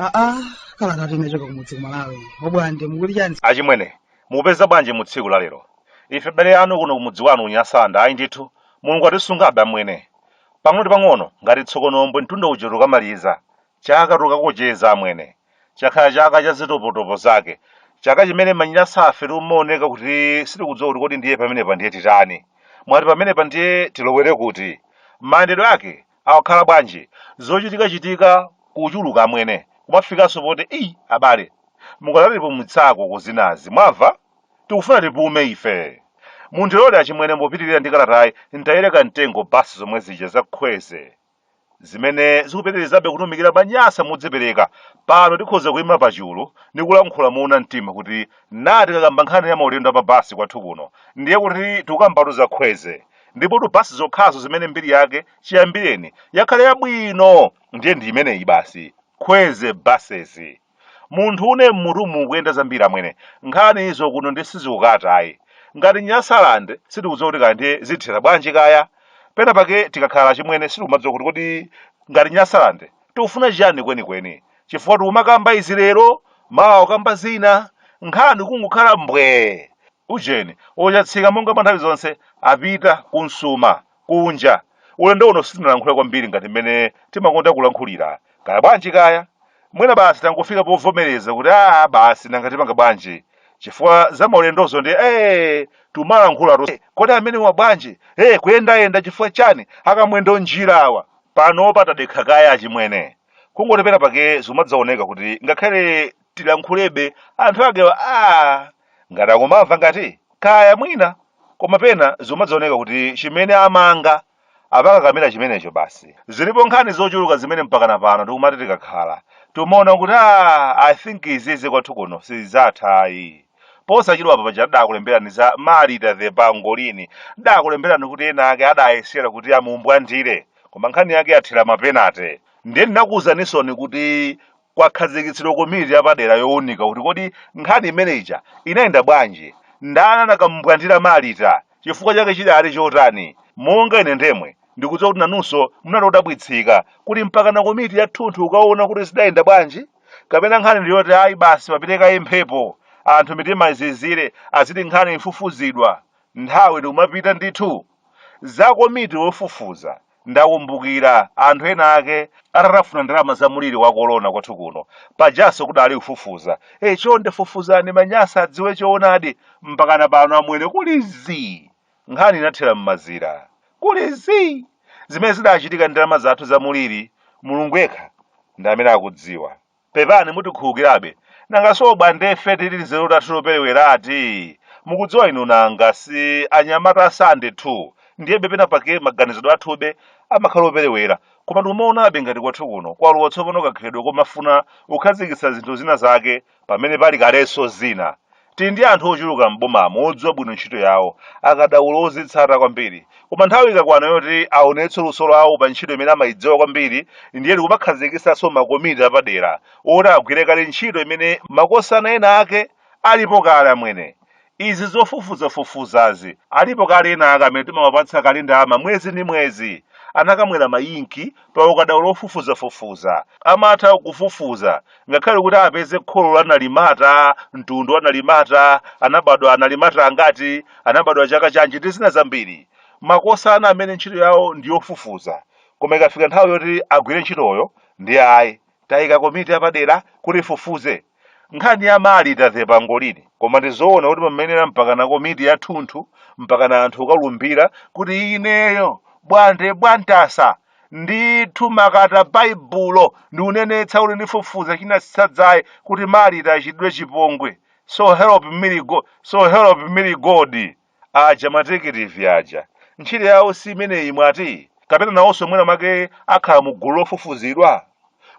aa kalata yochoka kumudzi kumalawi obwande mukuti chani achimwene mupeza bwanji mu tsiku la lero ife bale anu kuno kumudzi wanu unyasanda ayi ndithu mulungu atisungabe amwene pang'ono ndi pang'ono ngati tsokonombwe mtunda uja tukamaliza chaka tukakocheza amwene chakhala chaka cha zitopotopo zake chaka chimene manyasafe timaoneka kuti sitikudziwa kuti kodi ndiye pamenepa ndiye titani mwati pamenepa ndiye tilowere kuti mayendedwe ake awa akhala bwanji zochitikachitika kuchuluka amwene kumafikanso poti ii abale mukadatipumutsako ku zinazi mwamva tikufuna tipume ife mundilole achimwene mopitirira ndi kalatayi ntayire kamtengo basi zomwe zija za kwezy zimene zikupitirizabe kutumikira manyasa modzipereka pano tikhoza kuima pachulu ndi kulankhula moona mtima kuti na tikakamba nkhani ya maulendo a pa basi kwathu kuno ndiye kuti tikukambatu za kwezy ndipotu basi zokhazo zimene mbiri yake chiyambireni yakhala yabwino ndiye ndi imeneyi basi kwezy buses munthune mmutu mukuyenda zambiri amwene nkhani zokuno ndi sizikukata ayi ngati nyasaland sitikudziwa kuti kaya ndiye zithera bwanji kaya pena pake tikakhala achimwene sitikumadziwa kuti kodi ngati nyasaland tikufuna chiyani kwenikweni chifukwa tikumakamba izi lero mawa ukamba zina nkhani kungokhala mbwee ujeni ochatsika monga mwa nthawi zonse apita kunsuma kunja. Ulendo uno sitinalankhule kwambiri ngati mmene timakonda kulankhulira. Kaya bwanji kaya? Mwina basi tangofika povomereza kuti aa basi nanga tipanga bwanji? Chifukwa za maulendozo ndiye tumalankhulatu kodi amenewa bwanji? Ee kuyendayenda chifukwa chani? Akamwendo njira awa. Panopa tadekha kaye achimwene. Kungoti pena pake zimadzaoneka kuti ngakhale tilankhulebe anthu akewa aa ngati akumamva ngati kaya mwina koma pena zimadzaoneka kuti chimene amanga apa akakamira chimenecho basi zilipo nkhani zochuluka zimene mpakana pano tikumati tikakhala timaona kuti a i think izizi kwathu kuno sizatha ayi posachedwa apa paja ndidakulemberani za marita the pangolini ndidakulemberani kuti ena ake adayesera kuti amumbwandire koma nkhani yake yathera mapenate ndiye ndinakuuzanisoni kuti Kwakhazikitsidwa komiti yapadera younika kuti kodi nkhani imene ija inayenda bwanji, ndani anakamubwandira Marita, chifukwa chake chidali chotani. Monga ine ndemwe, ndikudziwa kuti nanunso munali odabwitsika kuti mpakana komiti yathunthu kukaona kuti zidayenda bwanji? Kapena nkhani ndi yoti ayi basi papite kaye mphepo, anthu mitima izizire, aziti nkhani ifufuzidwa, nthawi ndikumapita ndithu? Za komiti yofufuza Ndakumbukira anthu ena ake atatafuna ndalama za muliri wa kolona kwathu kuno. Pajanso kudali kufufuza. Chonde fufuzani manyasa adziwe choonadi mpakana pano amwene kuli zii. Nkhani inathera m'mazira. Kuli zii! Zimene zidachitika ndi ndalama zathu za muliri, Mulungu yekha ndi amene akudziwa. pepani mutikhulukirabe nanga si Bwande ife tinzeru tathu toperewera ati mukudziwa inu nanga si anyamata asande 2 ndiyebe pena pake maganizidwe athube amakhala operewera koma ndikumaonabe ngati kwathu kuno kwalowa tsopano kakhalidwe komafuna kukhazikitsa zinthu zina zake pamene pali kalenso zina Tili ndi anthu ochuluka m'bomamo odziwa bwino ntchito yawo, akadaulo ozitsata kwambiri. Koma nthawi ikakwana yoti aonetse luso lawo pa ntchito imene amaidziwa kwambiri ndiye tikumakhazikitsanso makomiti apadera oti agwire kale ntchito imene makosana ena ake alipo kale amwene. Izi zofufuzafufuzazi, alipo kale ena ake amene timawapatsa kale ndalama mwezi ndi mwezi. Anakamwera mainki pa ukadaulo wofufuzafufuza. Amatha kufufuza ngakhale kuti apeze kholo la nalimata mtundu wa nalimata anabadwa analimata angati anabadwa chaka chanji ndi zina zambiri makosana amene ntchito yawo ndi yofufuza koma ikafika nthawi yoti agwire ntchitoyo ndi ayi taika komiti yapadera kuti ifufuze nkhani ya Malita wa pangolini koma ndizoona kuti pamenepa mpakana komiti yathunthu mpakana anthu kukalumbira kuti ineyo Bwande Bwantasa ndithu m'makata baibulo ndikunenetsa kuti ndifufuza chinatsitsa dzaye kuti Malita achitidwe chipongwe so help me go, so help me god aja matekitivi aja ntchito yawo si imeneyi mwati kapena nawonso mwina make akhala mu gulu lofufuzidwa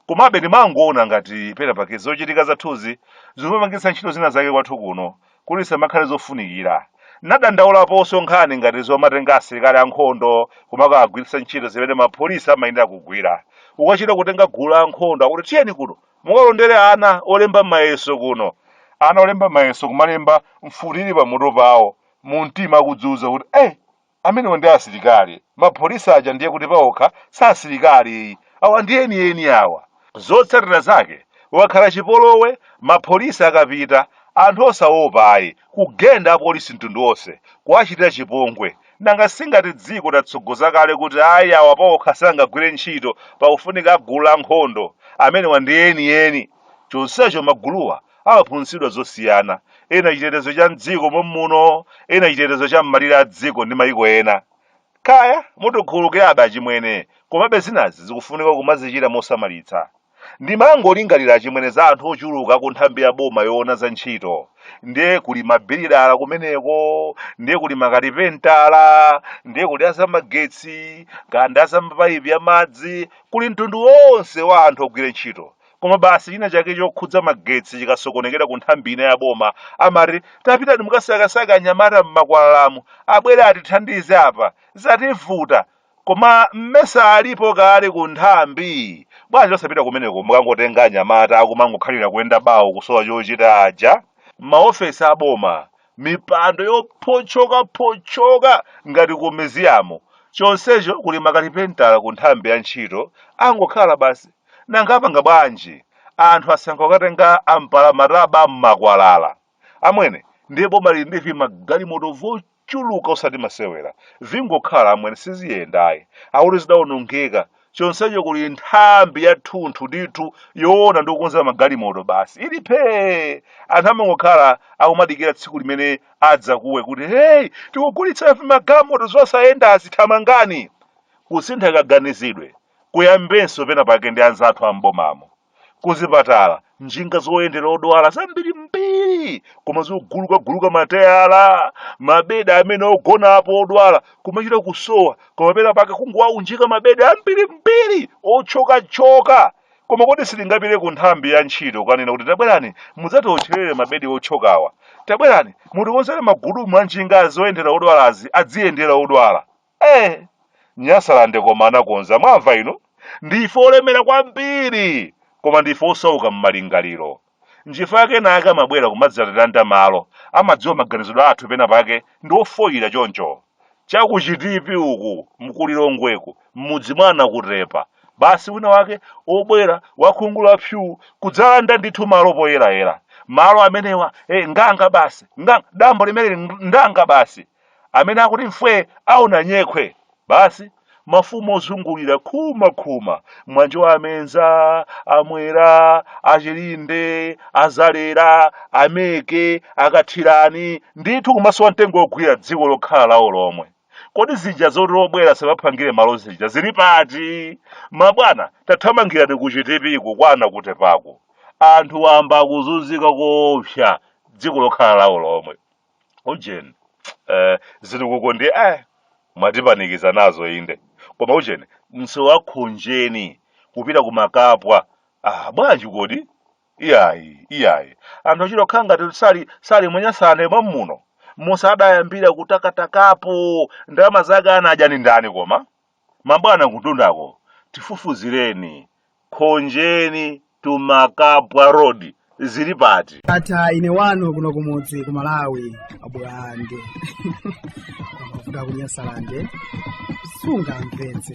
komabe ndimangoona ngati pena pake zochitika zathuzi zimapangitsa ntchito zina zake kwathu kuno kuti zisamakhale zofunikira. N'nadandaulaponso nkhani ngati zomatenga asilikali ankhondo kumakawagwiritsa ntchito zimene mapolisi amayenera kugwira. Ukachita kutenga gulu la ankhondo akuti tiyeni kuno mukalondere ana olemba mayeso kuno. Ana olemba mayeso kumalemba mfuti ili pamutu pawo, mumtima akudziuza kuti, Eh! Amenewo ndi asilikali? Mapolisi aja ndiye kuti paokha si asilikali ayi. Awa ndi enieni awa. Zotsatira zake kukakhala chipolowe mapolisi akapita anthu osaopa ayi kugenda apolisi mtundu wonse kuwachitira chipongwe. Nanga si ngati dziko tatsogoza kale kuti ayi awa paokha sangagwire ntchito pakufunika agulu lankhondo. Amenewa ndi enieni. Chonsecho maguluwa amaphunzitsidwa zosiyana, ena chitetezo cha m'dziko mommuno, ena chitetezo cha m'malire a dziko ndi mayiko ena. Kaya, mutikhululukirabe achimwene, komabe zinazi zikufunika kumazichita mosamalitsa. Ndimangolingalira achimwene za anthu ochuluka ku nthambi ya boma yoona za ntchito, ndiye kuli mabilidala kumeneko, ndiye kuli makalipentala, ndiye kuli a zamagetsi, kaya ndi a za mapaipi a madzi, kuli mtundu wonse wa anthu ogwira ntchito, koma basi china chake chokhudza magetsi chikasokonekera ku nthambi ina ya boma amati tapitani mukasakesake anyamata m'makwalalamu abwere atithandize apa zativuta koma mmesa alipo kale ku nthambi bwanji osapita kumeneko mukangotenga anyamata akumangokhalira kuyenda bawo kusowa chochita aja maofesi a boma mipando yopotchokapotchoka ngati kumeziyamu chonsecho kuli makalipentala ku nthambi ya ntchito angokhala basi nanga apanga bwanji anthu asankha kukatenga ampalamataba m'makwalala amwene ndiye boma lili ndi vimagalimoto vochuluka osati masewera vingokhala amwene siziyendayi akuti zidawonongeka chonsecho kuli nthambi yathunthu ndithu yoona ndi kukonza magalimoto basi ili phee anthu amangokhala akumadikira tsiku limene adzakuwe kuti heyi tikugulitsa magalimoto zosayendazi thamangani kusintha kaganizidwe kuyambenso pena pake ndi anzathu am'bomamo kuzipatala njinga zoyendera odwala zambirimbiri koma zogulukaguluka mateyala mabedi amene ogonapo odwala kumachita kusowa koma pena pake kungowaunjika mabedi ambirimbiri othyokathyoka koma kodi sitingapite ku nthambi ya ntchito kanena kuti tabwerani mudzatiotcherere mabedi othyokawa tabwerani mutikonzere magudumu a njinga zoyendera odwalazi adziyendera odwala ee nyasalande koma anakonza mwamva inu ndife olemera kwambiri koma ndife osauka m'malingaliro nchifukwa chake enake amabwera kumadzatilanda malo amadziwa maganizidwe athu pena pake ndi ofoyira choncho cha ku Chitipi uku mkuLilongweku m'mudzi mwa Nakutepa basi wina wake obwera wakhungu la psyuu kudzalanda ndithu malo poyerayera malo amenewa eh, nganga basi nga, dambo limeneli ndanga basi amene akuti mfwe aona nyekhwe basi mafumu ozungulira khuma khuma mwanjo amenza amwera achilinde azalera ameke akathirani ndithu kumasowa mtengo wogwira dziko lokhala lawo lomwe kodi zija zoti obwera samaphangire malo zija zili pati mabwana tathamangirani ku Chitipiko kwa Nakutepako anthu wamba akuzunzika koopsa dziko lokhala lawo lomwe ujeni eh, ziliko ndi eh, mwatipanikiza nazo inde koma ujeni msewu wa Khonjeni kupita ku Makapwa ah, bwanji kodi iyayi iyayi anthu achita kukhala ngati sali sali m'Nyasaland mwamuno muja adayambira kutakatakapo ndalama zake anadya ni ndani koma Mabwana kutundako tifufuzireni Khonjeni to Makapwa road zili pati? Ata ine wanu kuno kumudzi ku Malawi a Bulande amavuta ku Nyasalande sungamvetse